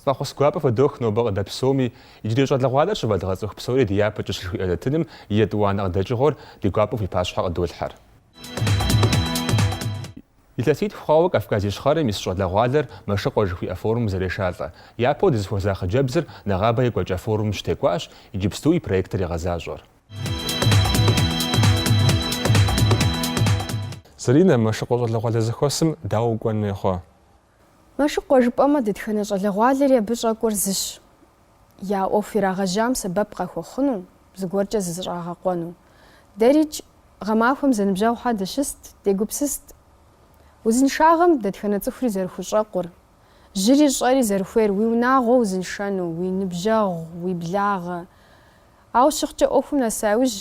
Фӏэхъус гуапэ фыдох нобэ къыдэплъ псоми, иджырей щӏалэгъуалэр щывэдгъэцӏыху псори ди япэкӏэщ жыхуиӏэ нэтыным и етӏуанэ къыдэкӏыгъуэр ди гуапэу фи пащхьэ къыдолъхьэр. Илъэситху хъуауэ Кавказ Ищхъэрэм ис щӏалэгъуалэр Мэшыкъуэ жыхуиӏэ форумым зэрешалӏэ. Япэу дызыхуэза хъыджэбзыр нэгъабэ екӏуэкӏа форумым щытекӏуащ, иджыпсту и проектыр егъэзащӏэр. Заринэ, Мэшыкъуэ щӏалэгъуалэ зэхуэсым дауэ укӏуэн хуей хъуа? Мэшыкъуэ жыпӏэмэ, дэтхэнэ щӏалэгъуалэри абы щӏэкӏуэр зыщ, я ӏуэху ирагъэжьам сэбэп къахуэхъуну, зыгуэркӏэ зызыщӏагъэкъуэну. Дэрикӏ, гъэмахуэм зэныбжьэгъухэр дыщыст, дегупсыст. Узыншагъэм дэтхэнэ цӏыхури зэрыхущӏэкъур, жьыри щӏэри зэрыхуейр уи унагъуэ узыншэну, уи ныбжьэгъу, уи благъэ. Ауэ щыхъукӏэ ӏуэхум нэса иужь,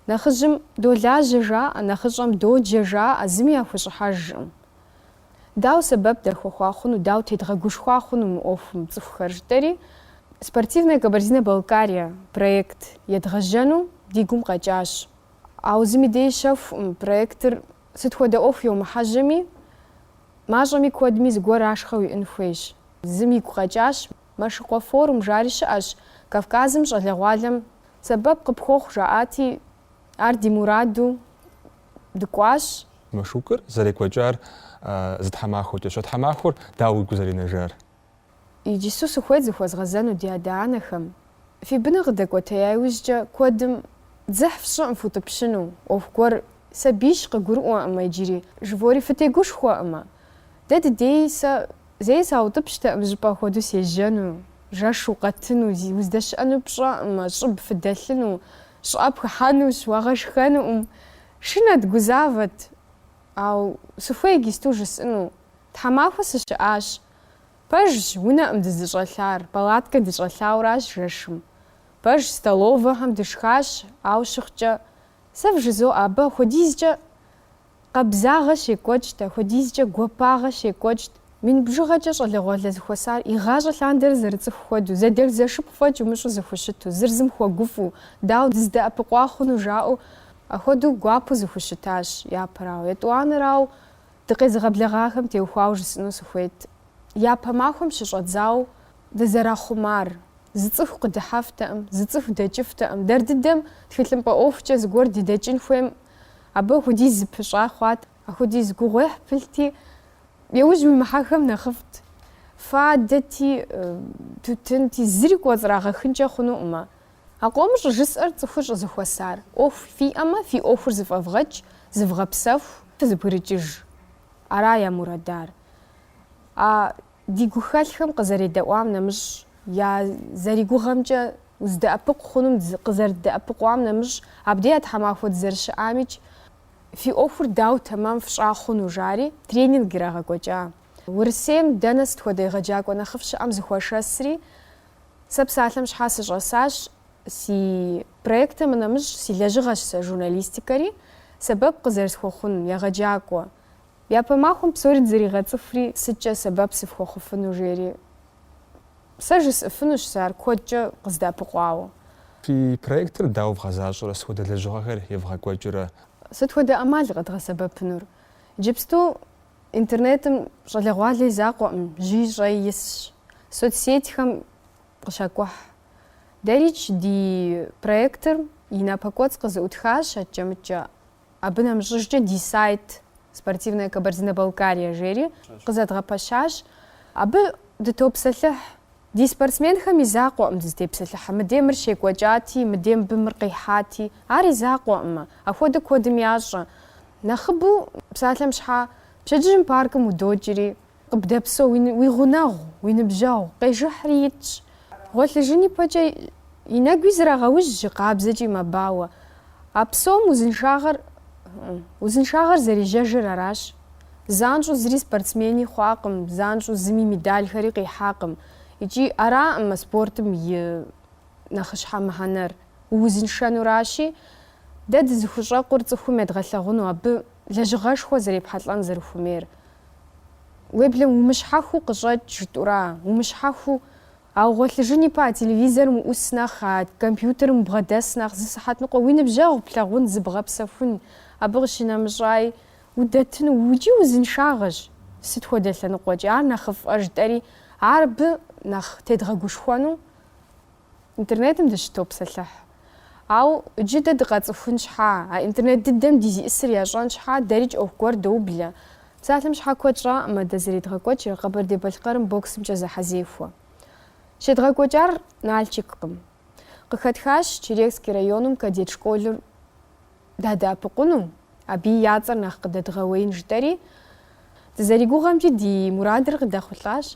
нэхъыжьым долажьэ жаӏэ, нэхъыщӏэм доджэ жаӏэ, зыми яхущӏыхьэжкъым. Дау сэбэп дахуэхъуа хъуну, дау тедгъэгушхуа хъуну мы ӏуэхум цӏыхухэр жытӏэри, Спортивная Кабардино-Балкария проект едгъэжьэну ди гум къэкӏащ. Ауэ зыми дей щэхуӏым, проектыр сыт хуэдэ ӏуэху йомыхьэжьэми, мащӏэми куэдми зыгуэр ашхъэ уиӏын хуейщ. Зым игу къэкӏащ, Мэшыкъуэ форум жари щыӏэщ, Кавказым щӏалэгъуалэм сэбэп къыпхуэхъу жаӏати, ар ди мураду дыкӏуащ. Машукыр зэрекӏуэкӏар зы тхьэмахуэкӏэщ. А тхьэмахуэр дауэ уигу зэринэжар? Иджысу сыхуейт зыхуэзгъэзэну ди адэ-анэхэм. Фи быныр къыдэкӏуэтея иужькӏэ куэдым дзыхь фщӏыӏым футӏыпщыну, ӏуэху гуэр сабийщ къыгурыӏуэкъымэ иджыри, жывори фытегушхуэкъымэ. Дэ дыдей сэ зэи саутӏыпщтэкъым жьыпӏэ хуэдэу сежьэну, жэш укъэтыну, уздэщыӏэнур пщӏэкъымэ, щӏыб фыдэлъыну, щӏыӏэ пхыхьэнущ, уагъэшхэнукъым. Шынэт, гузавэт, ау сыхуей гисту жысӏыну, тхьэмахуэ сыщыӏащ. Пэжщ, унэӏым дызыщӏэлъар, палаткэ дыщӏэлъауращ жэшым. Пэжщ, столовэхэм дышхащ, ау щыхъукӏэ, сэ вжызоӏэ, абы апхуэдизкӏэ къабзагъэ щекӏуэкӏт, апхуэдизкӏэ гуапагъэ щекӏуэкӏт. Мин бжыгъэкӏэ щӏалэгъуалэ зыхуэсар, игъащӏэ лъандэрэ зэрыцӏыху хуэдэу, зэдэлъхузэшыпхъу фӏэкӏ умыщӏу зыхущыту, зыр зым хуэгуфӏу, дауэ дыздэӏэпыкъуа хъуну жаӏэу, ахуэдэу гуапэу зыхущытащ, япэрауэ. Етӏуанэрауэ, дыкъезыгъэблэгъахэм теухуауэ жысӏэну сыхуейт, япэ махуэм щыщӏэдзауэ дызэрахъумар, зы цӏыху къыдыхьэфтэкъым, зы цӏыху дэкӏыфтэкъым, дэр дыдэм тхылъымпӏэ ӏуэхукӏэ зыгуэр дыдэкӏын хуейм, абы ахуэдиз зыпыщӏа хъуат. Ахуэдиз гугъуехь пылъти, яужь уимыхьэхэм нэхъыфӏт. Фадэти, тутынти, зыри кӏуэцӏрагъэхынкӏэ хъунуӏымэ. А къомыр щӏыжысӏэр цӏыхур щӏызэхуэсар. ӏуэху фиӏэмэ, фи ӏуэхур зыфӏэвгъэкӏ, зывгъэпсэху, фызэбгрыкӏыж. Ара я мурадар. А ди гухэлъхэм къызэредэӏуам нэмыщӏ, я зэригугъэмкӏэ уздэӏэпыкъу хъунум къызэрыддэӏэпыкъуам нэмыщӏ, абдея тхьэмахуэ дызэрыщыӏамикӏ, Фи ӏуэхур дауэ тэмэм фщӏа хъуну? жари, тренинг ирагъэкӏуэкӏа. Урысейм дэнэ сыт хуэдэ егъэджакӏуэ нэхъыфӏ щыӏэм зэхуашэсри, сэ псалъэм щхьа сыщӏэсащ. Си проектым нэмыщӏ си лэжьыгъэщ сэ журналистикэри, сэбэп къызэрысхуэхъун егъэджакӏуэ. Япэ махуэм псори дызэригъэцӏыхури, сыткӏэ сэбэп сыфхуэхъуфыну жери, сэ жысӏыфынущ сэ ар куэдкӏэ къыздэӏэпыкъуауэ. Фи проектыр дауэ вгъэзащӏэрэ сыт хуэдэ лэжьыгъэхэр евгъэкӏуэкӏрэ? Сыт хуэдэ ӏэмал къэдгъэсэбэпынур? Иджыпсту интернетым щӏалэгъуалэ и закъуэӏым, жьыи щӏэи исщ, соцсетьхэм къыщакӏухь. Дэрикӏ ди проектыр и напэкӏуэцӏ къызэӏутхащ, адкӏэ-мыдкӏэ Абы нэмыщӏыжкӏэ ди сайт Спортивная Кабардино-Балкария жери къызэдгъэпэщащ. Абы дытопсэлъыхь. Ди спортсменхэм и закъуэӏым дызытепсэлъыхьыр. Мыдей мыр щекӏуэкӏати, мыдей мыбы мыр къихьати, ар и закъуэӏымэ. Ахуэдэ куэдым ящӏэ. Нэхъыбэу псалъэм щхьа, пщэдджыжьым паркым удокӏри, Къыбдэпсэу, уи гъунэгъу, уи ныбжьэгъу къежыхьри итщ. Гъуэлъыжын ипэкӏэ и нэгуи зрагъэужь жьы къабзэкӏи мэбауэ. А псом узыншагъэр, узыншагъэр зэрежьэжыр аращ. Занщӏэу зыри спортсмени хъуакъым, занщӏэу зыми медалхэри къихьакъым. Икӏи араӏым а спортым и нэхъыщхьэ мыхьэнэр, уузыншэнуращи, дэ дызыхущӏэкъур цӏыхум едгъэлъэгъуну абы лэжьыгъэшхуэ зэрепхьэлӏэн зэрыхуэмейр. Уеблэм умыщхьэхыу къыщӏэкӏ жытӏура? Умыщхьэхыу ауэ гъуэлъыжын ипэ а телевизорым уӏус нэхъ, а компьютерым убгъэдэс нэхъ, зы сыхьэт ныкъуэ уи ныбжьэгъу плъагъун, зыбгъэпсэхун, абы къыщынэмыщӏаи удэтыну, икӏи узыншагъэщ, сыт хуэдэ лъэныкъуэкӏи, ар нэхъыфӏэ жытӏэри, ар абы нэхъ тедгъэгушхуэну. Интернетым дыщытопсэлъыхь. Ауэ джы дэ дыкъацӏыхун щхьа, а интернет дыдэм ди зиӏысыр ящӏэн щхьа, дэрикӏ ӏуэху гуэр доублэ. Псалъэм щхьа куэд щӏаӏымэ дэ зэредгъэкӏуэкӏыр Къэбэрдей-Балъкъэрым боксымкӏэ зэхьэзехуэ. Щедгъэкӏуэкӏар Налчиккъым. Къыхэтхащ Черекский районым кадет школыр дадэӏэпыкъуну, абы я цӏэр нэхъ къыдэдгъэуеин жытӏэри, дызэригугъэмкӏи ди мурадыр къыдэхъулӏащ.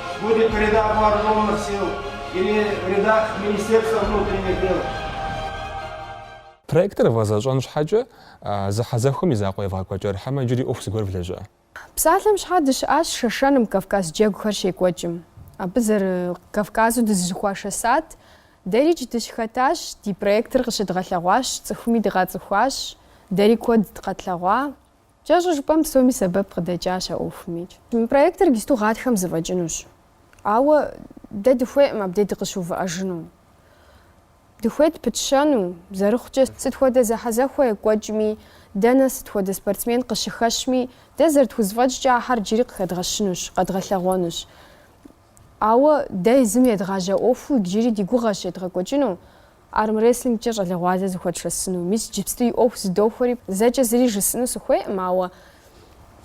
Будь то в рядах вооруженных сил или в рядах Министерства внутренних дел. Проектыр вгъэзэщӏэн щхьэкӏэ, зэхьэзэхуэм и закъуэ евгъэкӏуэкӏар, хьэмэ иджыри ӏуэху зыгуэр влэжьа? Псалъэм щхьа дыщыӏащ Шэшэным, Кавказ джэгухэр щекӏуэкӏым. Абы зэры Кавказу дызыщыхуашэсат, дэрикӏ дыщыхэтащ, ди проектыр къыщыдгъэлъэгъуащ, цӏыхуми дыкъацӏыхуащ, дэри куэд къэтлъэгъуа. Кӏэщӏу жыпӏэм псоми сэбэп къыдэкӏащ а ӏуэхумикӏ. Мы проектыр иджысту гъатхэм зэфӏэкӏынущ. Ауэ дэ дыхуейкъым абдей дыкъыщыувыӏэжыну. Дыхуейт пытщэну, зэрыхъукӏэ, сыт хуэдэ зэхьэзэхуэ екӏуэкӏми, дэнэ сыт хуэдэ спортсмен къыщыхэщми, дэ зэрытхузэфӏэкӏкӏэ ахьэр джыри къыхэдгъэщынущ, къэдгъэлъэгъуэнущ. Ауэ дэ езым едгъажьа ӏуэхуу иджыри ди гугъэщ едгъэкӏуэкӏыну армрестлингкӏэ щӏалэгъуалэ зыхуэтшэсыну. Мис иджыпсту и ӏуэху зыдохуэри, зэкӏэ зыри жысӏыну сыхуейкъым, ауэ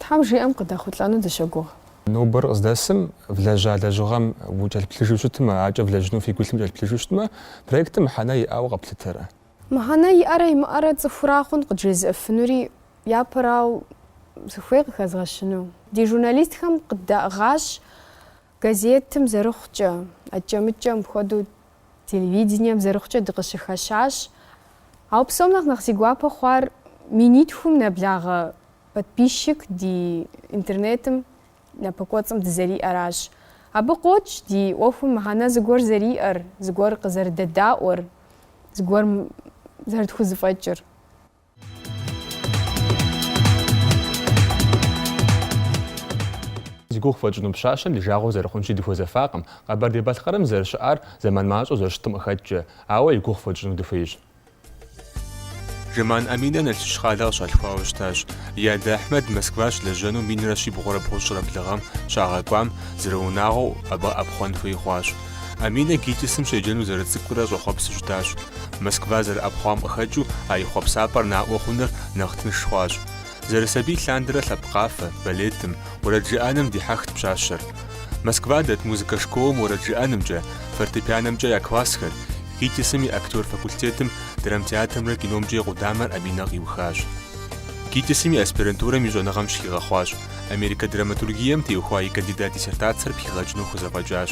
Тхьэм жиӏэм къыдэхъулӏэну дыщогугъ. Нобэр къыздэсым, влэжьа лэжьыгъэм укӏэлъыплъыжу щытмэ, акӏэ влэжьыну фи гу илъым кӏэлъыплъыжу щытмэ, проектым мыхьэнэ иӏауэ къэплъытэрэ? Мыхьэнэ иӏэрэ имыӏэрэ цӏыхура хъун къыджезыӏыфынури, Япэрау сыхуей къыхэзгъэщыну. Ди журналистхэм къыддаӏыгъащ газетым зэрыхъукӏэ, акӏэ-мыкӏэм хуэдэу телевидением зэрыхъукӏэ дыкъыщыхэщащ. Ауэ псом нэхъ нэхъ си гуапэ хъуар минитхум нэблагъэ подписчик ди интернетым напэкӏуэцӏым дызэриӏэращ. Абы къокӏ ди ӏуэхум мыхьэнэ зыгуэр зэриӏэр, зыгуэр къызэрыдэдаӏуэр, зыгуэр зэрытхузэфӏэкӏыр. Зи гугъу фхуэтщӏыну пщащэм ди жагъуэ зэрыхъунщи дыхуэзэфакъым. Къэбэрдей-Балъкъэрым зэрыщыӏар зэман мащӏэу зэрыщытым къыхэкӏкӏэ, ауэ и гугъу фхуэтщӏыну дыхуейщ. Жэман Аминэ Налшыч къалэ къыщалъхуауэ щытащ. И адэ Ахьмэд Москва щылэжьэну минрэ щибгъурэ бгъущӏрэ блыгъэм щагъэкӏуам зэрыунагъуэу абы ӏэпхъуэн хуей хъуащ. Аминэ ГИТИС-м щеджэну зэрыцӏыкӏурэ щӏэхъуэпсу щытащ. Москва зэрыӏэпхъуам къыхэкӏыу а и хъуэпсапӏэр наӏуэ хъуныр нэхъ тынш хъуащ. Зэрысабий лъандэрэ лъэпкъ къафэ, балетым, уэрэд жыӏэным дихьэхт пщащэр. Москва дэт музыкэ школым уэрэд жыӏэнымкӏэ, фортепианэмкӏэ я классхэр, ГИТИС-м и актер факультетым, драмтеатрымрэ киномкӏэ и къудамэр Аминэ къиухащ. ГИТИС-м и аспирантурэм и щӏэныгъэм щыхигъэхъуащ. Америкэ драматургием теухуа и кандидат диссертацэр пхигъэкӏыну хузэфӏэкӏащ.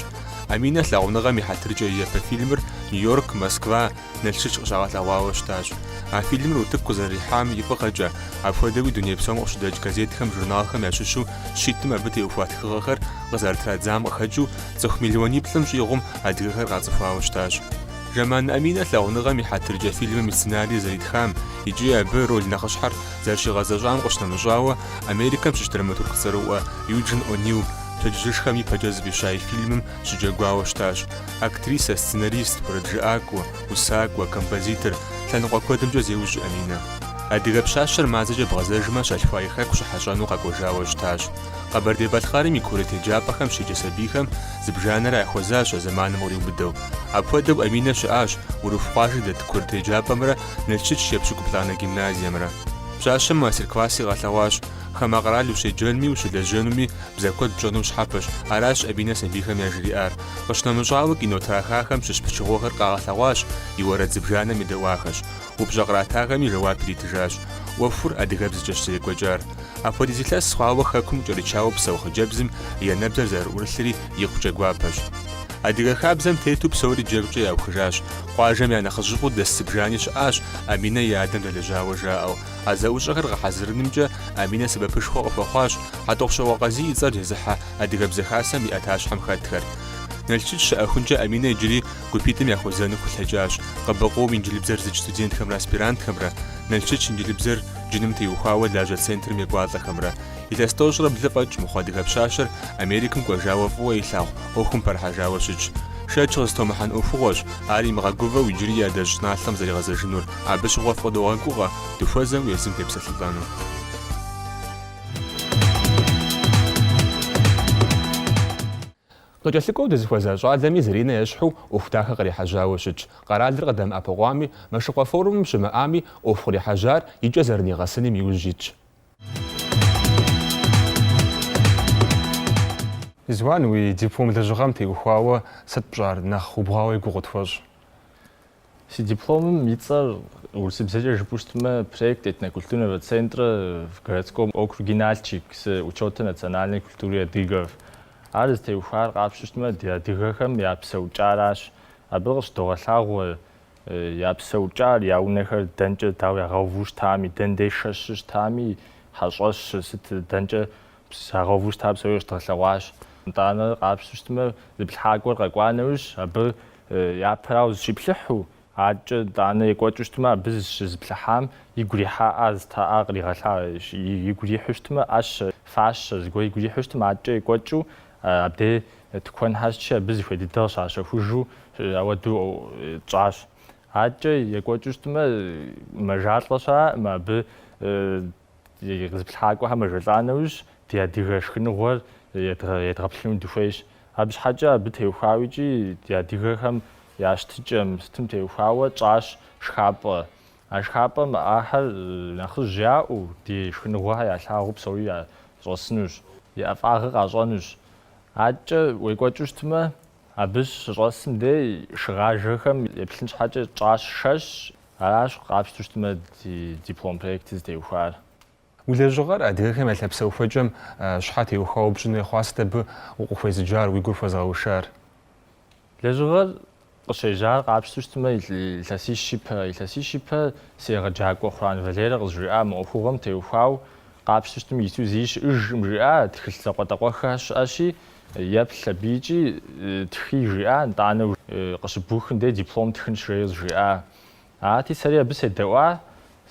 Аминэ лъагъуныгъэм и хьэтыркӏэ и япэ фильмыр Нью-Йорк, Москва, Налшыч къыщагъэлъэгъуауэ щытащ. А фильмыр утыку къызэрихьам и фӏыгъэкӏэ, апхуэдэуи дуней псом къыщыдэкӏ газетхэм, журналхэм ящыщу щитӏым абы теухуа тхыгъэхэр къызэрытрадзам къыхэкӏыу цӏыху миллиониплӏым щӏигъум адыгэхэр къацӏыхуауэ щытащ. Жэман Аминэ лъагъуныгъэм и хьэтыркӏэ фильмым и сценарий зэритхам икӏи абы роль нэхъыщхьэр Зэрыщигъэзэщӏам къыщынэмыщӏауэ, Америкэм щыщ драматург цӏэрыӏуэ Юджин О'Нил пщэдджыжьышхэм ипэкӏэ зыфӏища и фильмым щыджэгуауэ щытащ. Актрисэ, сценарист, уэрэджыӏакӏуэ, усакӏуэ, композитор, лъэныкъуэ куэдымкӏэ зеужь Аминэ. Адыгэ пщащэр мазэкӏэ бгъэзэжмэ щалъхуа и хэку щыхьэщӏэну къэкӏуэжауэ щытащ. Къэбэрдей-Балъкъэрым и курыт еджапӏэхэм щеджэ сабийхэм зыбжанэрэ яхуэзащ а зэманым къриубыдэу. Апхуэдэу Аминэ щыӏащ Урыху къуажэ дэт курыт еджапӏэмрэ Налшыч епщыкӏуплӏанэ гимназиемрэ. Пщащэм мастер-класси къэлъэгъуащ. Хамэ къэрал ущеджэнми, ущылэжьэнуми бзэ куэд пщӏэну щхьэпэщ, аращ Аминэ сабийхэм яжриӏар. Къыщынэмыщӏауэ, кино трахахэм щыщ пычыгъуэхэр къагъэлъэгъуащ, и уэрэд зыбжанэм едэӏуахэщ. Упщӏэ къратахэми жэуап иритыжащ. ӏуэхур адыгэбзэкӏэщ зэрекӏуэкӏар. Апхуэдиз илъэс хъуауэ хэкум кӏэрычауэ псэу хъыджэбзым и анэбзэр зэрыӏурылъри икъукӏэ гуапэщ. Адыгэ хабзэм тету псори джэгукӏэ яухыжащ. Къуажэм я нэхъыжьыфӏу дэс зыбжани щыӏащ, Аминэ и адэм дэлэжьауэ жаӏэу. А зэӏущӏэхэр гъэхьэзырынымкӏэ Аминэ сэбэпышхуэ къыхуэхъуащ Хьэтӏохъущокъуэ Къазий и цӏэр зезыхьэ Адыгэбзэ Хасэм и ӏэтащхьэм хэтхэр. Налшыч щыӏэхункӏэ Аминэ иджыри гупитӏым яхуэзэну хулъэкӏащ КъБКъУ-м инджылыбзэр зыдж студентхэмрэ аспирантхэмрэ, Налшыч инджылыбзэр джыным теухуауэ лажьэ центрым екӏуалӏэхэмрэ. Илъэс тӏощӏрэ блы фӏэкӏ мыхъу адыгэ пщащэр Америкэм кӏуэжауэ фӏыуэ илъагъу ӏуэхум пэрыхьэжауэ щытщ. Шэч къызытомыхьэн ӏуэхугъуэщ ар имыгъэгувэу иджыри и адэжь щӏыналъэм зэригъэзэжынур, абы щыгъуэ фыкъыдогъэгугъэ дыхуэзэу езым депсэлъылӏэну. Къыкӏэлъыкӏуэу дызыхуэза щӏалэми Заринэ ещхьу ӏуэху дахэ кърихьэжьауэ щытщ. Къэралыр къыдэмыӏэпыкъуами, Мэшыкъуэ форумым щымыӏами, ӏуэху кърихьэжьар икӏэ зэрынигъэсыным иужь итщ. Ризуан, уи диплом лэжьыгъэм теухуауэ сыт пщӏар? Нэхъ убгъуауэ и гугъу къытхуэщӏ? Си дипломым и цӏэр, урысыбзэкӏэ жыпӏэу щытмэ, Проект этнокультурного центра в городском округе Нальчик с учетом национальной культуры адыгов. Ар зытеухуар къапщу щытмэ, ди адыгэхэм я псэукӏаращ. Абы къыщыдогъэлъагъуэ Я псэукӏар, я унэхэр дэнкӏэ, дауэ ягъэуву щытами, дэндей шэщу щытами, хьэщӏэщ, сыт, дэнкӏэ ягъэуву щыта псори къыщыдгъэлъэгъуащ. Итӏанэ къапщу щытмэ, зыплъыхьакӏуэр къэкӏуа нэужь, абы япэрауэ зыщиплъыхьу, адэкӏэ итӏанэ екӏуэкӏыу щытмэ, абы зыщызыплъыхьам игу ирихьаӏа зыта ӏа къригъэлъа, игу ирихьу щытмэ, ӏэщэ, фащэ, зыгуэр игу ирихьу щытым, адэкӏэ екӏуэкӏыу, Абдей тыкуэн хэтщи, абы зыхуей дыдэр къыщащэхужу ауэдэу тщӏащ. Адэкӏэ екӏуэкӏыу щытмэ, мэжалӏэ щыӏэм, абы къы зыплъыхьакӏуэхэр мэжэлӏа нэужь, ди адыгэ шхыныгъуэр едгъэплъыну дыхуейщ. Абы щхьэкӏэ абы теухуауэ икӏи ди адыгэхэм я щытыкӏэм сытым теухуауэ тщӏащ шхапӏэ. А шхапӏэм ахэр нэхъыжь яӏэу, ди шхыныгъуэхэр ялъагъуу псори щӏэсынущ, и ӏэфӏагъыр къащӏэнущ. Адэкӏэ уекӏуэкӏыу щытмэ, абы щыщӏэсым дей шыгъажэхэм еплъын щхьэкӏэ тщӏащ шэщ, аращ къапщту щытмэ ди диплом проектыр зытеухуар. Уи лэжьыгъэр адыгэхэм я лъапсэухуэкӏэм щхьэ теухуауэ пщӏын хуей хъуа, сыт абы укъыхуезыджар, уи гур хуэзыгъэушар? Лэжьыгъэр къыщежьар къапщту щытмэ, илъэсищ ипэ, илъэсищ ипэ си егъэджакӏуэ Хъуран Валерэ къызжиӏа мы ӏуэхугъуэм теухуау къапщту щытым иту зыи щыӏыжкъым жиӏа тхылъ закъуэтӏакъуэхэ щыӏэщи, еплъ абы икӏи тхы жиӏа, нтӏанэ къыщыбухым дей диплом тхынщ жеи къызжиӏа. Арати, сэри абы седэӏуа,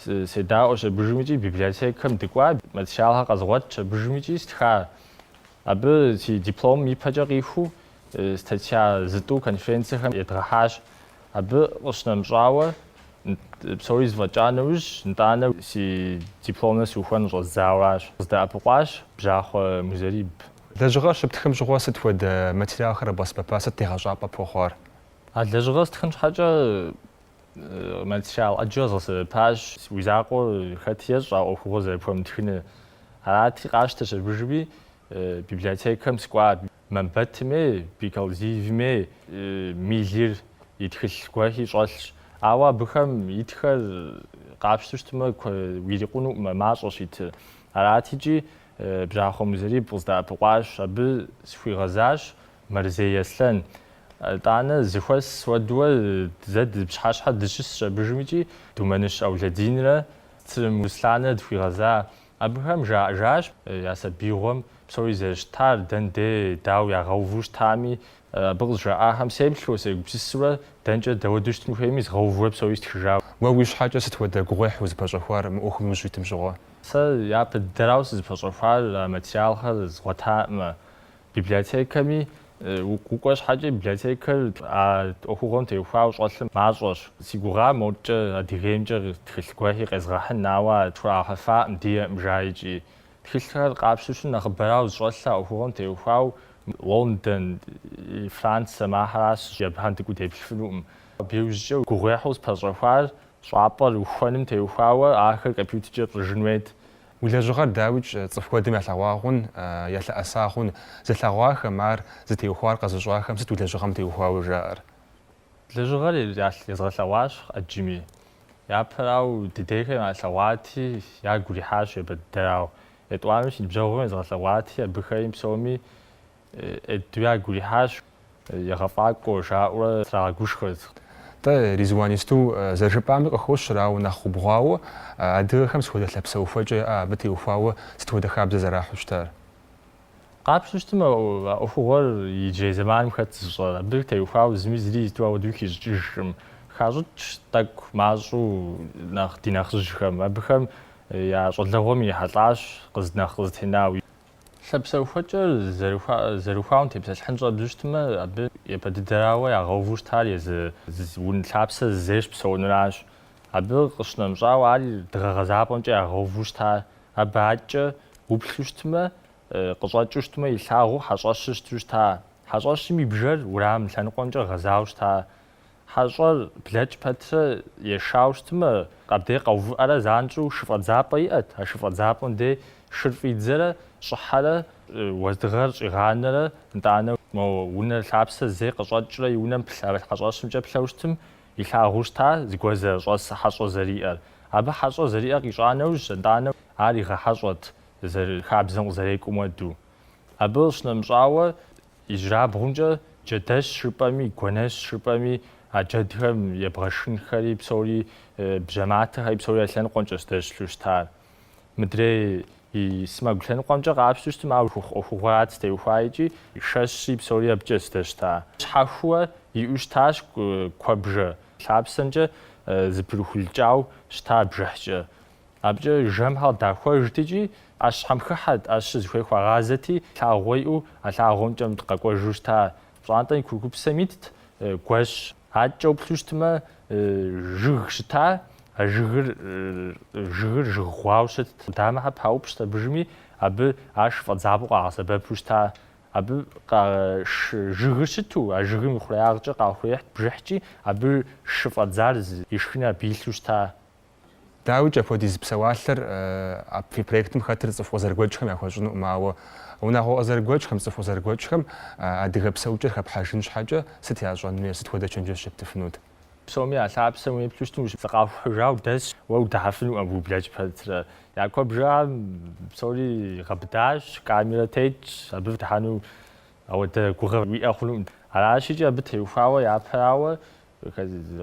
седаӏуэщ абыжым икӏи библиотекэм дыкӏуа, материалхэр къэзгъуэтщ абыжым икӏи стха. Абы си дипломым ипэкӏэ къиху статья зытӏу конференцэхэм едгъэхьащ. Абы къыщынэмыщӏауэ, псори зэфӏэкӏа нэужь, нтӏанэ си дипломыр сухуэну щӏэздзауэращ. Къыздэӏэпыкъуащ Бжьахъуэ Музэриб. Лэжьыгъэр щыптхым щыгъуэ сыт хуэдэ материалхэр къэбгъэсэбэпа, сыт тегъэщӏапӏэ пхуэхъуар? А лэжьыгъэр стхын щхьэкӏэ материал ӏэджэ згъэсэбэпащ. Уи закъуэ хэти ещӏэ а ӏуэхугъуэр зэрыпхуэмытхыныр. Арати, къащтэщ абыжми, библиотекэм сыкӏуа Мамбэтми, Бекалзиевми, Миллир и тхылъ гуэрхи щӏэлъщ. Ауэ абыхэм итхэр къапщту щытмэ, уирикъунукъым а мащӏэщ итыр. Арати икӏи, Бжьахъуэ Музэриб къыздэӏэпыкъуащ. Абы сыхуигъэзащ Мэрзей Аслъэн, нтӏанэ, зыхуэс уэдуэ зэ ды пщыхьэщхьэ дыщысщ абыжым икӏи Думэныщ Аулэдинрэ Цырым Русланрэ дыхуигъэза. Абыхэм жаӏэжащ я сабиигъуэм псори зэрыщытар, дэн де, дау ягъэуву щытами, абы къызжаӏахэм сеплъу, сегупсысурэ, дэнкӏэ дэуэду щытын хуейми, згъэувурэ псори стхыжа. Уэ уи щхьэкӏэ сыт хуэдэ гугъуехь узыпэщӏэхуар мы ӏуэхум ущитым щыгъуэ? Сэ япэ дыдэрауэ сызыпэщӏэхуар а материалхэр згъуэтаӏымэ, Библиотекэми укӏуэ щхьэкӏэ, библиотекэр а ӏуэхугъуэм теухуауэ щӏэлъыр мащӏэщ. Си гугъа модкӏэ Адыгеймкӏэ тхылъ гуэхи къезгъэхьын, ауэ ар тхуахьыфаӏым, диӏэӏым жа икӏи. Тхылъхэр къапщту щытым нэхъыбэрауэ зыщӏэлъ а ӏуэхугъуэм теухуауэ Лондон, Францэм ахэращ, абыхэм дыкӏуу деплъфынукъым. Абы иужькӏэ гугъуехьу спэщӏэхуар щӏапӏэр ухуэным теухуауэ ахэр компьютеркӏэ пщӏыжын хуейт, Уи лэжьыгъэр дауикӏ цӏыху куэдым ялъэгъуа хъун, ялъэӏэса хъун, зылъэгъуахэм, ар зытеухуар къэзыщӏахэм сыт уи лэжьыгъэм теухуауэ жаӏэр? Лэжьыгъэр езгъэлъэгъуащ ӏэджэми. Япэрауэ, дыдейхэм ялъэгъуати, ягу ирихьащ ебэддэрауэ. Етӏуанэу си ныбжьэгъухэм езгъэлъэгъуати, абыхэми псоми Ӏейду ягу ирихьащ. Егъэфӏакӏуэ, жаӏэурэ трагъэгушхуэрт. Тӏэ, Ризуан, исту зэрыжыпӏами къыхощ ар, ауэ нэхъ убгъуауэ, адыгэхэм сыт хуэдэ лъэпсэухуэкӏэ яӏэ абы теухуауэ сыт хуэдэ хабзэ зэрахьу щытар? Къапщту щытым а ӏуэхугъуэр иджырей зэманым хэт зыщӏэр, абы теухуауэ зыми зыри зыту ауэдэуи хищӏыкӏыжкъым. Хащӏыкӏ тӏэкӏу мащӏэу нэхъ ди нэхъыжьхэм, абыхэм я щӏалэгъуэм ирихьэлӏащ къыз нэхъ къызэтенауэ. Лъэпсэухуэкӏэр зэрыхуауэм тепсэлъыхьын щӏэбдзу щытмэ, абы япэ дыдэрауэ ягъэуву щытар езы унэ лъапсэ зей щыпсэунуращ. Абы къыщынэмыщӏауэ, ар дыгъэ гъэзапӏэмкӏэ ягъэуву щыта, абы адэкӏэ уплъу щытмэ, къыщӏэкӏыу щытмэ, илъагъуу хьэщӏэщыр щыту щыта. Хьэщӏэщым и бжэр уэрам лъэныкъуэмкӏэ гъэзауэ щыта. Хьэщӏэр блэкӏ пэтрэ ешауэ щытмэ, къабдей къэувыӏэрэ занщӏэу шы фӏэдзапӏэ иӏэт, а шы фӏэдзапӏэм дей шыр фӏидзэрэ щӏыхьэрэ, уэздыгъэр щӏигъанэрэ, нтӏанэ мо унэр лъапсэ зей къыщӏэкӏрэ и унэм плъ а хьэщӏэщымкӏэ плъэу щытым, илъагъуу щыта зыгуэр зэрыщӏэс хьэщӏэ зэриӏэр. Абы хьэщӏэ зэриӏэр къищӏа нэужь, нтӏанэ ар игъэхьэщӏэрт, хабзэм къызэрекӏуэм хуэду. Абы къыщынэмыщӏауэ, Ижьырабгъумкӏэ джэдэщ жыпӏэми, гуэнэщ жыпӏэми, а джэдхэм ебгъэшхынхэри псори, бжьэматэхэри псори а лъэныкъуэмкӏэщ здэщылъу щытар. Мыдрей и сэмэгу лъэныкъуэмкӏэ къапщту щытым, а ӏуэху ӏуэхугъуэрат зытеухуар икӏи, шэщри псори абыкӏэщ здэщыта. Щхьэхуэ иӏэу щытащ куэбжэ лъапсэмкӏэ зэпырыхулкӏауэ щыта бжыхькӏэ. Абыкӏэ жэмхэр къыдахуэжт икӏи ӏэщхэм хыхьэт, ӏэщыр зыхуей хуагъазэти, лъагъуэ иӏэу а лъагъуэмкӏэ мыдэ къэкӏуэжу щыта пщӏантӏэм и курыкупсэм итт гуэщ. Адэкӏэ уплъу щытмэ, жыг щыта, а жыгыр жыгыр жыг гъуауэ щытт, къудамэхэр паупщӏт абыжми, абы ар шы фӏэдзапӏэу къагъэсэбэпу щыта. Абы жыгыр щыту, а жыгым и хъуреягъкӏэ къахуехьт бжыхькӏи, абы шы фӏэдзар ишхыни абы илъу щыта. Дауикӏ, апхуэдиз псэуалъэр а фи проектым хэтыр цӏыху къызэрыгуэкӏхэм яхуэщӏынукъым, ауэ унагъуэ къызэрыгуэкӏхэм, цӏыху къызэрыгуэкӏхэм адыгэ псэукӏэр хэпхьэжын щхьэкӏэ сыт ящӏэн хуей, сыт хуэдэ чэнджэщ ептыфынут? Псоми я лъапсэм уеплъу щытым зыкъахухьыжауэ дэсщ, уэ удыхьэфынукъым абы ублэкӏ пэтрэ. Я куэбжэм псори гъэбыдащ, камерэ тетщ, абы удыхьэну ауэдэ гугъэ уиӏэ хъунукъым. Аращикӏи абы теухуауэ япэрауэ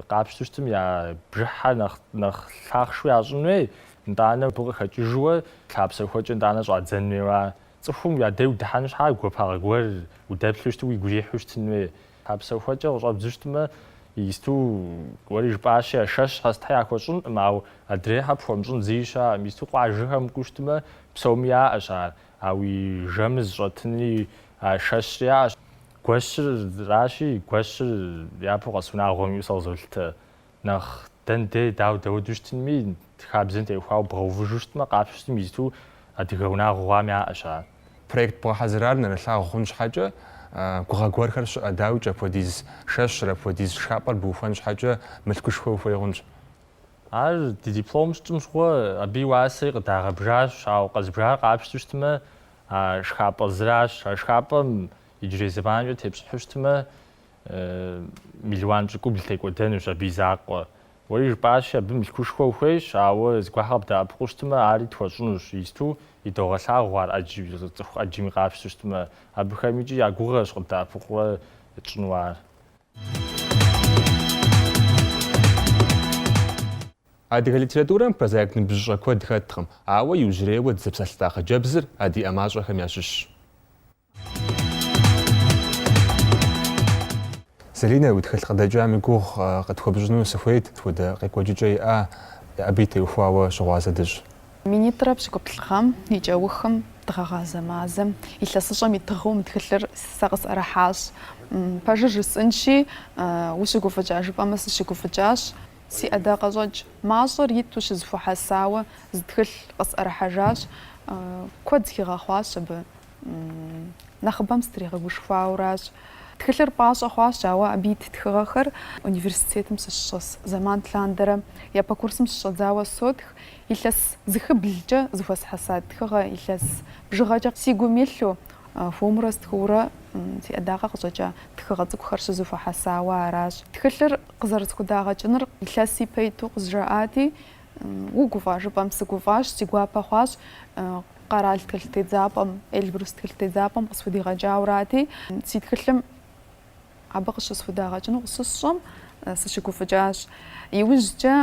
Къапщту щытым я бжыхьэр нэхъ лъахъшэу ящӏын хуей, нтӏанэ абы къыхэкӏыжууэ лъапсэхуэкӏэ нтӏанэ щӏадзэн хуейуэ ар. Цӏыхум я дей удыхьэну щхьа гуапагъэ гуэр удэплъу щыту уигу ирихьу щытын хуей. Лъапсэхуэкӏэ къыщӏэбдзу щытмэ, исту уэри жыпӏащи, а шэщхьэ сытхьэ яхуэщӏынкъым, ауэ адрейхьэр пхуэмыщӏын зыи щыӏэкъым. Исту къуажэхэм укӏуу щытмэ, псоми яӏэщ ар, а уи жэмыр зыщӏэтынри а шэщри яӏэщ. Гуэщыращи, гуэщыр япэу къэс унагъуэм иӏэу сэ къызолъытэ. Нэхъ дэн дей, дауэ, дэуэду щытынми, хабзэм теухуауэ бгъэувыжу щытмэ, къапщту щытым исту адыгэ унагъуэ хъуам яӏэщ ар. Проект бгъэхьэзырар нэрылъагъу хъун щхьэкӏэ, гугъэ гуэрхэр щыӏэ, дауикӏ, апхуэдиз шэщыр, апхуэдиз шхапӏэр быухуэн щхьэкӏэ мылъкушхуэ ухуей хъунщ. Ар ди диплом щытщӏым щыгъуэ, абы и уасэри къыдагъэбжащ, ауэ къэзбжар къапщту щытмэ, А шхапӏэ зыращ. А шхапӏэм иджырей зэманкӏэ тепщӏыхьу щытмэ, мелуан пщыкӏубл текӏуэдэнущ абы и закъуэ. Уэри жыпӏащи, абы мылъкушхуэ ухуейщ, ауэ зыгуахэр къыбдэӏэпыкъуу щытмэ, ари тхуэщӏынущ, исту идогъэлъагъу ар ӏэджи, цӏыху ӏэджэми къапщту щытмэ. Абыхэм икӏи я гугъэщ къыбдэӏэпыкъуурэ тщӏыну ар. Адыгэ литературэм прозаик ныбжьыщӏэ куэд хэткъым, ауэ иужьрейуэ дызэпсэлъылӏа хъыджэбзыр а ди ӏэмащӏэхэм ящыщщ. Залинэ, уи тхылъ къыдэкӏам и гугъу къытхуэпщӏыну сыхуейт, сыт хуэдэ къекӏуэкӏыкӏэ иӏа, абы и теухуауэ щыгъуазэ дыщӏ. Минитӏрэ пщыкӏуплӏ гъэм и кӏэухым дыгъэгъазэ мазэм, илъэсыщӏэм и тыгъэу мы тхылъыр сэ къысӏэрыхьащ. Пэжыр жысӏынщи, ущыгуфӏыкӏа жыпӏэмэ, сыщыгуфӏыкӏащ. Си ӏэдакъэщӏэкӏ мащӏэр иту щызэхуэхьэсауэ зы тхылъ къысӏэрыхьэжащ, куэд схигъэхъуащ абы, нэхъыбэм стригъэгушхуауращ. Тхылъыр пӏащӏэ хъуащ, ауэ абы ит тхыгъэхэр университетым сыщыщӏэс зэман лъандэрэ япэ курсым щыщӏэдзауэ сотх, илъэс зыхыблкӏэ зэхуэсхьэса тхыгъэ, илъэс бжыгъэкӏэ си гум илъу, Хуэмурэ стхыурэ си ӏэдакъэ къыщӏэкӏа тхыгъэ цӏыкӏухэр щызэхуэхьэсауэ аращ. Тхылъыр къызэрысхудагъэкӏыныр илъэс ипэ иту къызжаӏати, угуфӏа? жыпӏэм, сыгуфӏащ, си гуапэ хъуащ, къэрал тхылъ тедзапӏэм, Эльбрус тхылъ тедзапӏэм къысхудигъэкӏаурати, си тхылъым Абы къыщысхудагъэкӏыну къыщысщӏэм, сыщыгуфӏыкӏащ. Иужькӏэ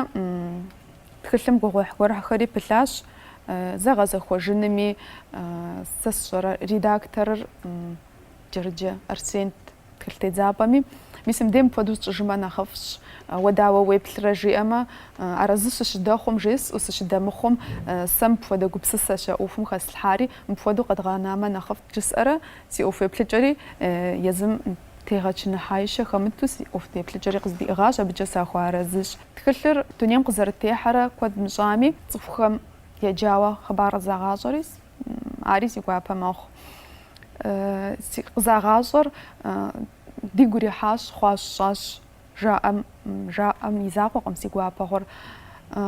тхылъым гугъуехь гуэрхэри пылъащ зэгъэзэхуэжынми. Сэ сщӏэрэ редакторыр Джэрыджэ Арсент тхылъ тедзапӏэми, мис мыбдей мыпхуэдэу сщӏыжмэ нэхъыфӏщ. Уэ дауэ уеплърэ жиӏэмэ, арэзы сыщыдэхъум жесӏэу, сыщыдэмыхъум, сэ мыпхуэдэ гупсысэщ а ӏуэхум хэслъхьари, мыпхуэдэу къэдгъэнамэ нэхъыфӏт жысӏэрэ Си ӏуэху еплъыкӏэри езым тегъэчыныхьаищэ хэмыту си ӏуэху теплъыкӏэри къыздиӏыгъащ, абыкӏэ сахуэарэзыщ. Тхылъыр дунейм къызэрытехьэрэ куэд мыщӏами, цӏыхухэм еджауэ хъыбар къызагъащӏэри, ари си гуапэ мэхъу. Къызагъащӏэр дигу ирихьащ, хъуащ-щӏащ Жаӏэм, жаӏэм и закъуэкъым си гуапэгъуэр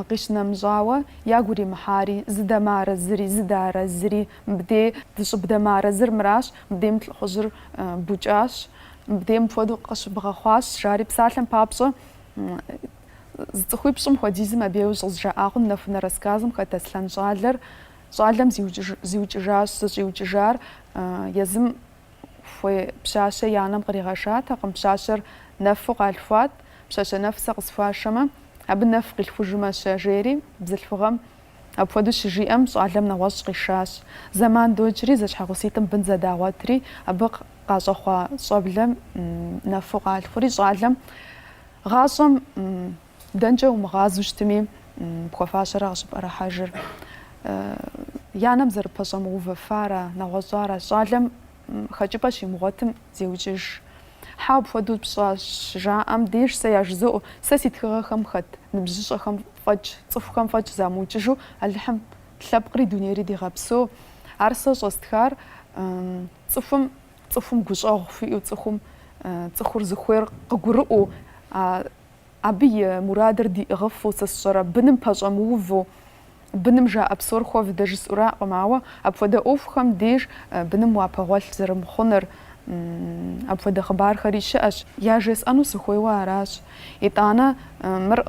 къищынэмыщӏауэ, ягу иримыхьари, зыдэмыарэзыри, зыдэарэзыри, мыбдей дыщӏыбдэмыарэзыр мыращ, мыбдейм лӏыхъужьыр букӏащ, мыбдей мыпхуэдэу къыщыбгъэхъуащ, жари псалъэм папщӏэ, зы цӏыхуипщӏым хуэдизым абейуэ щӏызжаӏа хъун Нэхунэ рассказым хэт Аслъэн щӏалэр, щӏалэм зиукӏыжащ, зыщӏиукӏыжар езым хуей пщащэ и анэм къригъэшатэкъым, пщащэр нэфу къалъхуат, пщащэ нэф сэ къысхуашэмэ, абы нэф къилъхужмэ-щэ, жери, бзылъхугъэм апхуэдэу щыжиӏэм, щӏалэм нэгъуэщӏ къишащ. Зэман докӏри, зэщхьэгъуситӏым бын зэдагъуэтри, абы къащӏэхъуа щӏэблэм нэфу къалъхури, щӏалэм гъащӏэм Дэнкӏэ умыгъазу щытми, пхуэфащэрэ къыщыпӏэрыхьэжыр? И анэм зэрыпэщӏэмыувэфара, нэгъуэщӏара? Щӏалэм хэкӏыпӏэ щимыгъуэтым, зеукӏыж. Хьэуэ, апхуэдэу пщӏащ, жаӏэм деж сэ яжызоӏэу, сэ си тхыгъэхэм хэт ныбжьыщӏэхэм фӏэкӏ, цӏыхухэм фӏэкӏ замыукӏыжу Алыхьым лъэпкъри дунейри дигъэпсэу. Ар сэ щӏэстхар цӏыхум, цӏыхум гущӏэгъу хуиӏэу, цӏыхум цӏыхур зыхуейр къыгурыӏуэу, а Абы и мурадыр диӏыгъыфу сэ сщӏэрэ, быным пэщӏэмыуву, быным жаӏэ псор хуэвдэ жысӏуракъым, ауэ апхуэдэ ӏуэхухэм деж быным уапэгъуэлъ зэрымыхъуныр, апхуэдэ хъыбархэри щыӏэщ, яжесӏэну сыхуейуэ аращ. Итӏанэ мыр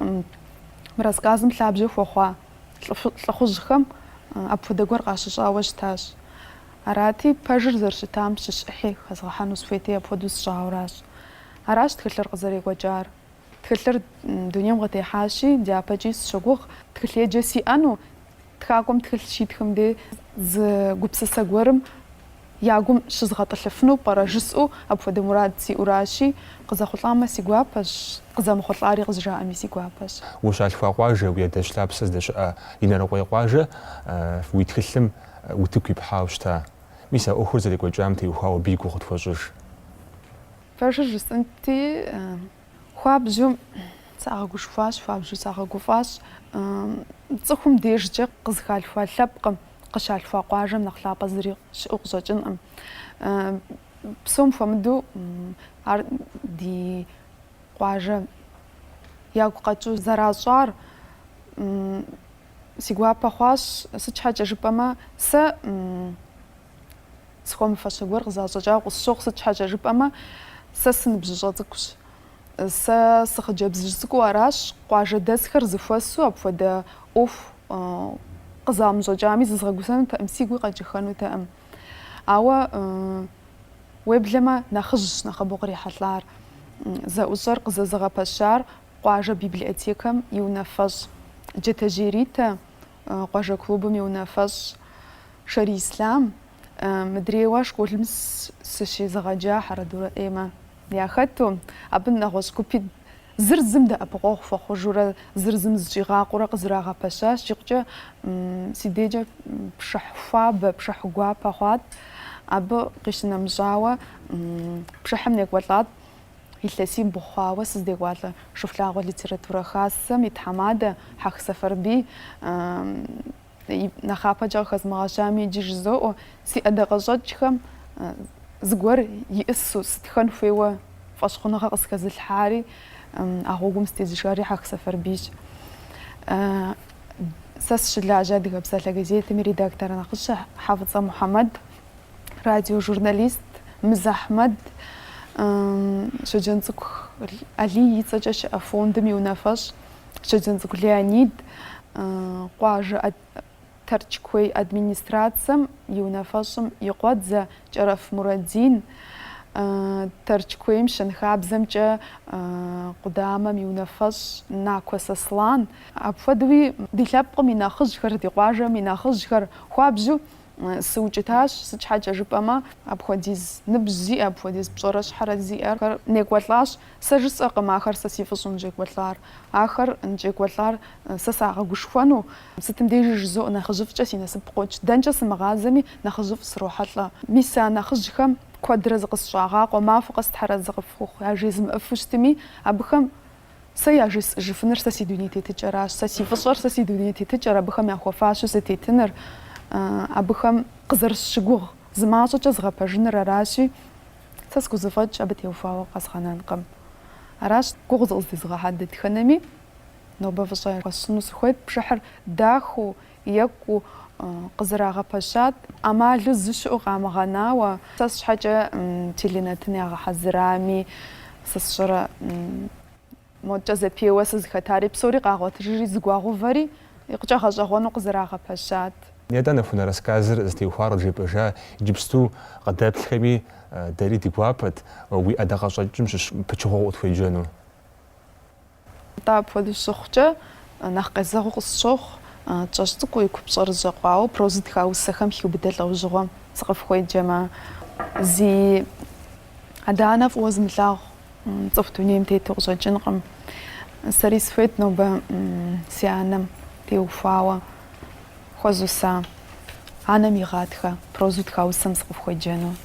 мы рассказым лъабжьэ хуэхъуа лӏыхъужьхэм апхуэдэ гуэр къащыщӏауэ щытащ. Арати, пэжыр зэрыщытам щыщ ӏыхьи хэзгъэхьэну схуейти апхуэдэу сщӏауращ. Аращ тхылъыр къызэрекӏуэкӏар. Тхылъыр дунейм къытехьащи, дяпэкӏи сыщогугъ тхылъеджэ сиӏэну, тхакӏуэм тхылъ щитхым дей зы гупсысэ гуэрым я гум щызгъэтӏылъыфыну пӏэрэ жысӏэу апхуэдэ мурад сиӏуращи, къызэхъулӏамэ си гуапэщ, къызэмыхъулӏари къызжаӏэми си гуапэщ. Ущалъхуа къуажэ, уи адэжь лъапсэ здэщыӏэ Инарыкъуей къуажэ уи тхылъым утыку ипхьауэ щыта? Мис а ӏуэхур зэрекӏуэкӏам теухуауэ абы и гугъу къытхуэщӏыж. Пэжыр жысӏэнти, хуабжьу сагъэгушхуащ, хуабжьу сагъэгуфӏащ. Цӏыхум дежкӏэ къызыхалъхуа лъэпкъым, къыщалъхуа къуажэм нэхъ лъапӏэ зыри щыӏэу къыщӏэкӏынкъым. Псом хуэмыдэу ар ди къуажэ ягу къэкӏыу зэращӏар си гуапэ хъуащ, сыт щхьэкӏэ жыпӏэмэ, сэ Схуэмыфащэ гуэр къызащӏэкӏауэ къысщохъу, сыт щхьэкӏэ жыпӏэмэ, сэ сыныбжьыщӏэ цӏыкӏущ. Сэ сыхъыджэбзыжь цӏыкӏуу аращ, къуажэдэсхэр зэхуэсу апхуэдэ ӏуэху къызамыщӏэкӏами, зызгъэгусэнутэкъым, сигуи къэкӏыхэнутэкъым. Ауэ уеблэмэ нэхъыжьщ нэхъыбэу кърихьэлӏар, зэӏущӏэр къызэзыгъэпэщар къуажэ библиотекэм и унафэщӏ Джэтэжьей Ритэ, къуажэ клубым и унафэщӏ Шэрий Ислъам, мыдрейуэ школым сыщезыгъэджа Хьэрэдурэ Эммэ яхэту, абы нэгъуэщӏ гупи зыр зым дэӏэпыкъуэгъу хуэхъужурэ зыр зым зыщӏигъакъуэурэ къызэрагъэпэщащ, икъукӏэ си дежкӏэ пшыхь хуабэ, пшыхь гуапэ хъуат, абы къищынэмыщӏауэ, пшыхьым некӏуэлӏат. илъэсибл хъуауэ сыздекӏуалӏэ Шыхулъагъуэ литературэ хасэм и тхьэмадэ Хьэх Сэфарбий нэхъапэкӏэ къыхэзмыгъэщами иджы жызоӏуэ, Си ӏэдакъэщӏэкӏхэм зыгуэр иӏысу, сытхэн хуейуэ фӏэщхъуныгъэ къысхэзылъхьари, а гъуэгум сытезышари Хьэх Сэфарбийщ. Сэ сыщылажьэ Адыгэ псалъэ газетым и редактор нэхъыщхьэ Хьэфӏыцӏэ Мухьэмэд радиожурналист Мыз Ахьмэд Щоджэнцӏыкӏу Алий и цӏэкӏэ щыӏэ фондым и унафэщӏ Щоджэнцӏыкӏу Леонид, къуажэ Тэрч куей администрацэм и унафэщӏым и къуэдзэ Кӏэрэф Мурадин, Тэрч куейм щэнхабзэмкӏэ къудамэм и унафэщӏ Накуэ Сослан, апхуэдэуи ди лъэпкъым и нэхъыжьхэр, ди къуажэм и нэхъыжьхэр хуабжьу Сыукӏытащ, сыт щхьэкӏэ жыпӏэмэ, апхуэдиз ныбжь зиӏэ, апхуэдиз пщӏэрэ щхьэрэ зиӏэхэр некӏуэлӏащ. Сэ жысӏэкъым ахэр сэ си фӏыщӏэу ныщӏекӏуэлӏар. Ахэр ныщӏекӏуэлӏар сэ сагъэгушхуэну, сытым дежи жызоӏэ, нэхъыжьыфӏкӏэ си насып къокӏ. Дэнкӏэ сымыгъазэми, нэхъыжьыфӏ срохьэлӏэ. Мис а нэхъыжьхэм куэдрэ зыкъысщӏагъакъуэ, махуэ къэс Тхьэр арэзы къыфхухъу, яжезмыӏэфу щытми, абыхэм Сэ яжесӏэжыфыныр сэ си дуней тетыкӏэращ, сэ си фӏыщӏэр сэ си дуней тетыкӏэр, абыхэм яхуэфащэу сытетыныр, абыхэм къызэрысщыгугъ зы мащӏэкӏэ згъэпэжыныр аращи, сэ схузэфӏэкӏ абы теухуауэ къэзгъэнэнкъым. Аращ гугъу зыкъыздезыгъэхьа дэтхэнэми, нобэ фӏыщӏэ хуэсщӏыну сыхуейт, пшыхьыр дахэу, Екӏуу къызэрагъэпэщат, ӏэмалу зыщыӏэу къамыгъэнауэ. Сэ сщхьэкӏэ теленэтын ягъэхьэзырами, сэ сщӏэрэ, модкӏэ зэпеуэ сызыхэтари псори къагъуэтыжри, зэгуагъэувэри, икъукӏэ гъэщӏэгъуэну къызэрагъэпэщат. Нетӏэ, Нэхунэ рассказыр зытеухуар къыджепӏэжа иджыпсту къыдэплъхэми, дэри ди гуапэт уи ӏэдакъэщӏэкӏым щыщ пычыгъуэ укъытхуеджэну. Атӏэ апхуэдэу щыхъукӏэ, нэхъ къезэгъыу къысщохъу кӏэщӏ цӏыкӏуу и купщӏэр жьэкъуауэ прозэу тха усэхэм хиубыдэ лӏэужьыгъуэм сыкъыфхуеджэмэ. Зи адэ-анэ фӏыуэ зымылъагъу цӏыху дунейм тету къыщӏэкӏынкъым. Сэри сыхуейт нобэ си анэм теухуауэ хуэзуса, анэм и гъатхэ прозэу тха усэм сыкъыфхуеджэну.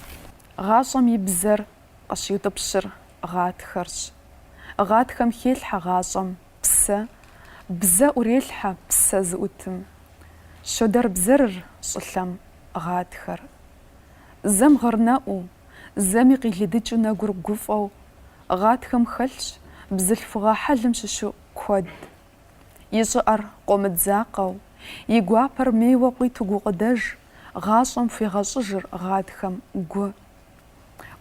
Гъащӏэм и бзэр Къыщиутӏыпщыр гъатхэрщ. Гъатхэм хелъхьэ гъащӏэм псэ, бзэ ӏурелъхьэ псэ зыӏутым. Щодэрбзэрыр щӏылъэм гъатхэр. Зэм гъырнэӏуу, зэми къилыдыкӏыу нэгур гуфӏэу гъатхэм хэлъщ бзылъхугъэ хьэлым щыщу куэд. И щӏыӏэр къомыдзакъэу, и гуапэр мейуэ къуиту гукъыдэж гъащӏэм хуигъэщӏыжыр гъатхэм гу.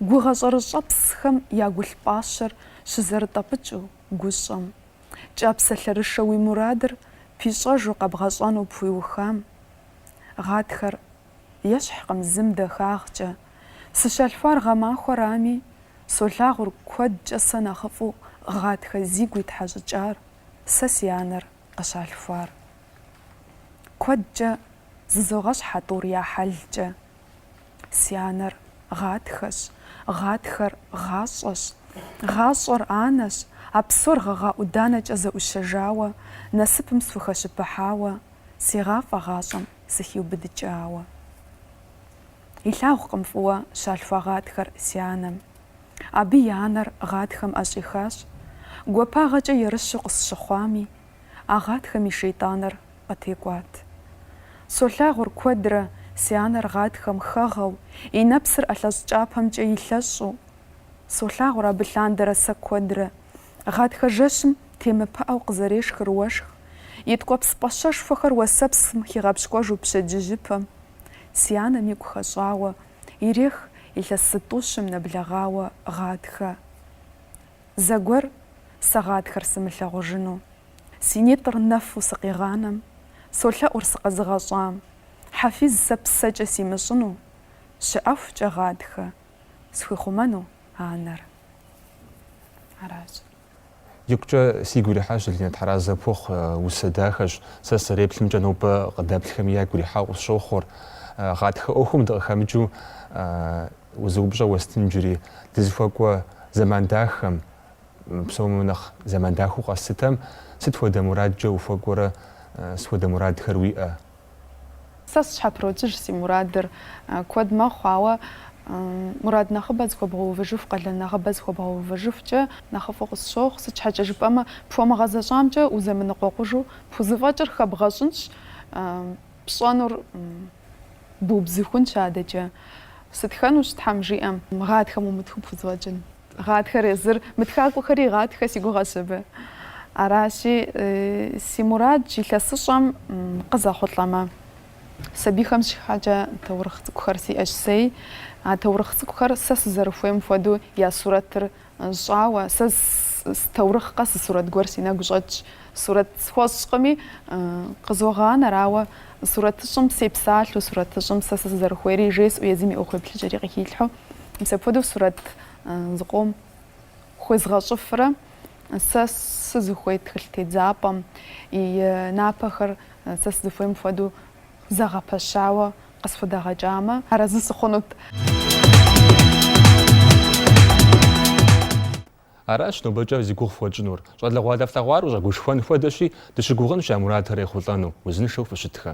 Гугъэ щӏэрыщӏэпсхэм я гулъ пӏащэр щызэрытӏэпӏыкӏыу гущӏэм, кӏапсэлъэрышэ уи мурадыр пищӏэжу къэбгъэщӏэну пхуиухам, гъатхэр ещхькъым зым дахагъкӏэ, сыщалъхуар гъэмахуэрами, солъагъур куэдкӏэ сэ нэхъыфӏу гъатхэ зигу итхьэщӏыкӏар сэ си анэр къыщалъхуар. Куэдкӏэ зэзогъэщхь а тӏур я хьэлкӏэ. Си анэр гъатхэщ, гъатхэр гъащӏэщ, гъащӏэр анэщ, а псор гъэгъа ӏуданэкӏэ зэӏущэжауэ, насыпым схухэщыпыхьауэ, сегъафӏэ гъащӏэм сыхиубыдыкӏауэ. Илъагъукъым фӏыуэ щалъхуа гъатхэр си анэм. Абы и анэр гъатхэм ӏэщӏихащ, гуапагъэкӏэ ерыщу къысщыхъуами, а гъатхэм и шейтӏаныр къытекӏуат. Солъагъур куэдрэ си анэр гъатхэм хэгъэу, и нэпсыр ӏэлъэщӏ кӏапэмкӏэ илъэщӏу. Солъагъур абы лъандэрэ сэ куэдрэ. Гъатхэ жэщым темыпыӏэу къызэрешхыр уэшх, и ткӏуэпс пӏащэшхуэхэр уэсэпсым хигъэпщкӏуэжу пщэдджыжьыпэм. Си анэм игу хэщӏауэ ирех илъэс зытӏущым нэблэгъауэ гъатхэ. Зэгуэр сэ гъатхэр сымылъагъужыну, Си нитӏыр нэфу сыкъигъанэм, Солъэӏур сыкъэзыгъэщӏам, Хьэфиз сэ псэкӏэ симыщӏыну, Щыӏэхукӏэ гъатхэ схуихъумэну анэр. Аращ. Икъукӏэ сигу ирихьащ, Залинэ, Тхьэразэ пхухъу, усэ дахэщ. Сэ сызэреплъымкӏэ, нобэ къыдэплъхэми ягу ирихьэу къысщохъур. Гъатхэ ӏуэхум дыкъыхэмыкӏыу, Зы упщӏэ уэстын иджыри, дызыхуэкӏуэ зэман дахэм, псоми нэхъ зэман дахэу къэслъытэм, сыт хуэдэ мурадкӏэ ухуэкӏуэрэ, сыт хуэдэ мурадхэр уиӏэ? Сэ сщхьэпротыж си мурадыр куэд мэхъу, ауэ мурад нэхъыбэ зыхуэбгъэувыжыху, къалэн нэхъыбэ зыхуэбгъэувыжыхукӏэ нэхъыфӏу къысщохъу, сыт щхьэкӏэ жыпӏэмэ, пхуэмыгъэзэщӏамкӏэ узэмыныкъуэкъужу пхузэфӏэкӏыр хэбгъэщӏынщ, Пщӏэнур бубзыхунщ адэкӏэ. Сытхэнущ Тхьэм жиӏэм. Гъатхэм умытхэу пхузэфӏэкӏын. Гъатхэр езыр мытхакӏуэхэри егъатхэ си гугъэщ абы. Аращи, си мурад илъэсыщӏэм къызэхъулӏэмэ, сабийхэм щхьэкӏэ таурыхъ цӏыкӏухэр сиӏэщ сэй. А таурыхъ цӏыкӏухэр сэ сызэрыхуейм хуэдэу я сурэтыр Щӏауэ, сэ таурыхъ къэс сурэт гуэр си нэгу щӏэтщ. Сурэт схуэщӏкъыми, къызогъанэри, ауэ сурэтыщӏым сепсалъэу, сурэтыщӏым сэ сызэрыхуейри жесӏэу, езым и ӏуэхуеплъыкӏэри къыхилъхьэу. Мис апхуэдэу сурэт зыкъом хуезгъэщӏыфрэ сэ сызыхуей тхылъ тедзапӏэм и напэхэр сэ сызыхуейм хуэдэу зэгъэпэщауэ Къысхудэгъэкӏамэ, арэзы сыхъунут. Аращ нобэкӏэ зи гугъу фхуэтщӏынур. Щӏалэгъуалэ флъэгъуар ущӏэгушхуэн хуэдэщи, дыщыгугъынщ я мурадхэр ехъулӏэну. Узыншэу фыщытхэ.